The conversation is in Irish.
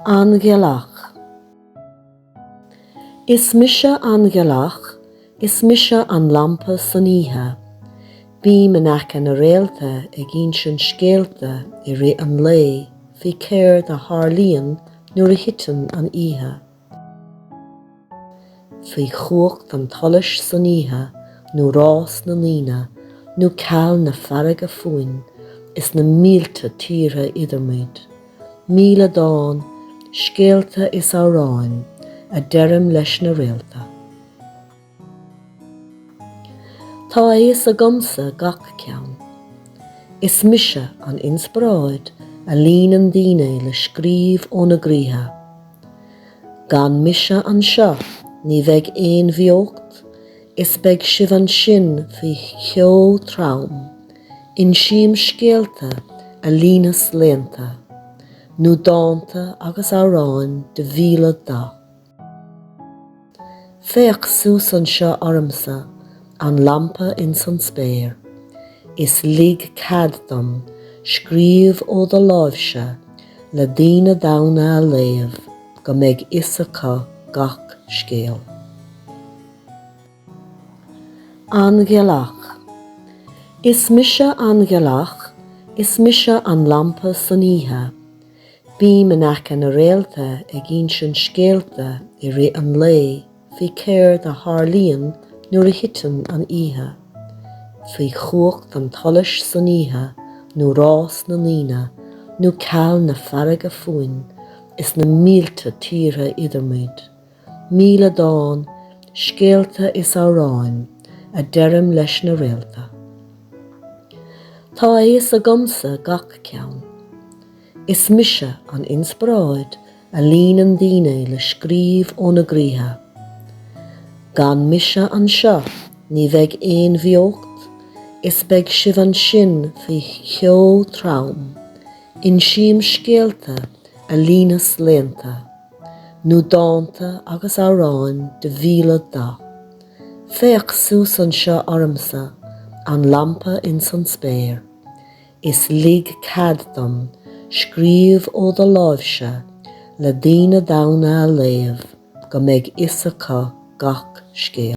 An Ghealach. Is mise an Ghealach, is mise an lampa san oíche. Bím in aice na réalta ag insint scéalta i rith an lae faoi céard a tharlaíonn nuair a thiteann an oíche. faoi chumhacht an tsolais san oíche nó rás na ndaoine nó ceol na farraige fúinn is na mílte tíortha idir muid. Míle dán, scéalta is amhráin a deirim leis na réalta. Tá a fhios agamsa gach ceann. Is mise an inspioráid a líonann daoine le scríobh óna gcroíthe. Gan mise anseo ní bheidh aon bheocht is beidh sibh ansin faoi cheo trom. Insím scéalta a líonas laethanta, nó dánta agus amhráin de mhíle dath. Féach suas anseo ormsa an lampa ins an spéir, is lig cead dom scríobh ó do láimhse le daoine daonna a léamh go mbeidh fhios acu gach scéal. An Ghealach. Is mise an Ghealach, is mise an lampa san oíche. Bím in aice na réalta ag insint scéalta i rith an lae faoi céard a tharlaíonn nuair a thiteann an oíche, faoi chumhacht an tsolais san oíche nó rás na ndaoine nó ceol na farraige fúinn is na mílte tíortha idir muid míle dán, scéalta is amhráin a deirim leis na réalta. Tá a fhios agamsa gach ceann. Is mise an inspioráid a líonann daoine le scríobh óna gcroíthe. Gan mise anseo ní bheidh aon bheocht is beidh sibh ansin faoi cheo trom, insím scéalta a líonas laethanta. nó dánta agus amhráin de mhíle dath. Féach suas anseo ormsa, an lampa ins an spéir, is lig cead dom scríobh ó do láimhse le daoine daonna a léamh go mbeidh fhios acu gach scéal.